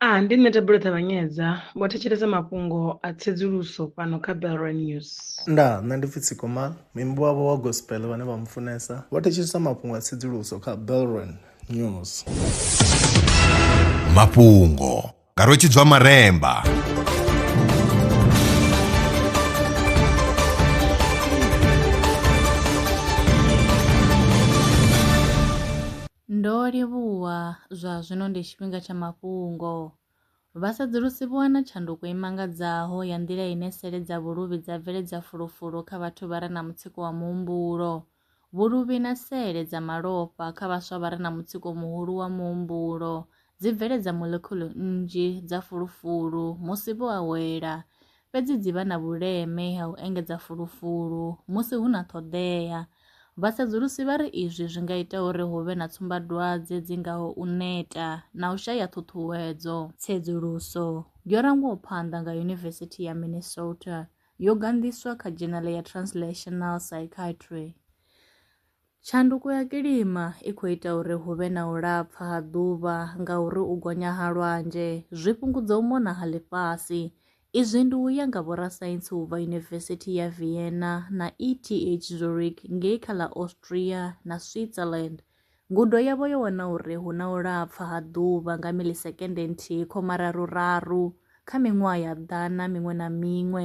A Ndi nṋe Thabelo Ṱavhanyedza, vho thetshelesa mafhungo a tsedzuluso fhano kha Bellroy News. Ndaa, nṋe ndi pfi Tsiko Mal, muimbi wavho wa gospel vhane vha mufunesa, vho thetshelesa mafhungo a tsedzuluso kha Bellroy News. Mafhungo nga Rwetshidzwa Maremba. Ndo livhuwa, zwa zwino ndi tshifhinga tsha mafhungo. Vhasedzulusi vho wana tshanduko i mangadzaho ya nḓila ine sele dza vhuluvhi dza bveledza fulufulu kha vhathu vha re na mutsiko wa muhumbulo. Vhuluvhi na sele dza malofha kha vhaswa vha re na mutsiko muhulu wa muhumbulo dzi bveledza molekhulu nnzhi dza fulufulu musi vho awela. fhedzi dzi vha na vhuleme ha u engedza fulufulu musi hu na ṱhoḓea. Vhasedzulusi vha ri izwi zwi nga ita uri hu vhe na tsumbadwadze dzi ngaho u neta na u shaya ṱhuṱhuwedzo. Tsedzuluso yo rangwaho phanḓa nga Yunivesithi ya Minnesota yo ganḓiswa kha dzhenale ya Translational Psychiatry. Tshanduko ya kilima i khou ita uri hu vhe na u lapfa ha ḓuvha ngauri u gonya ha lwanzhe zwi fhungudza u mona ha ḽifhasi. Izwi ndi u ya nga vhorasaintsi u bva Yunivesithi ya Vienna na ETH Zurich ngei kha ḽa Austria na Switzerland. Ngudo yavho yo wana uri hu na u lapfa ha ḓuvha nga milisekende nthihi khoma raru raru kha miṅwaha ya ḓana miṅwe na miṅwe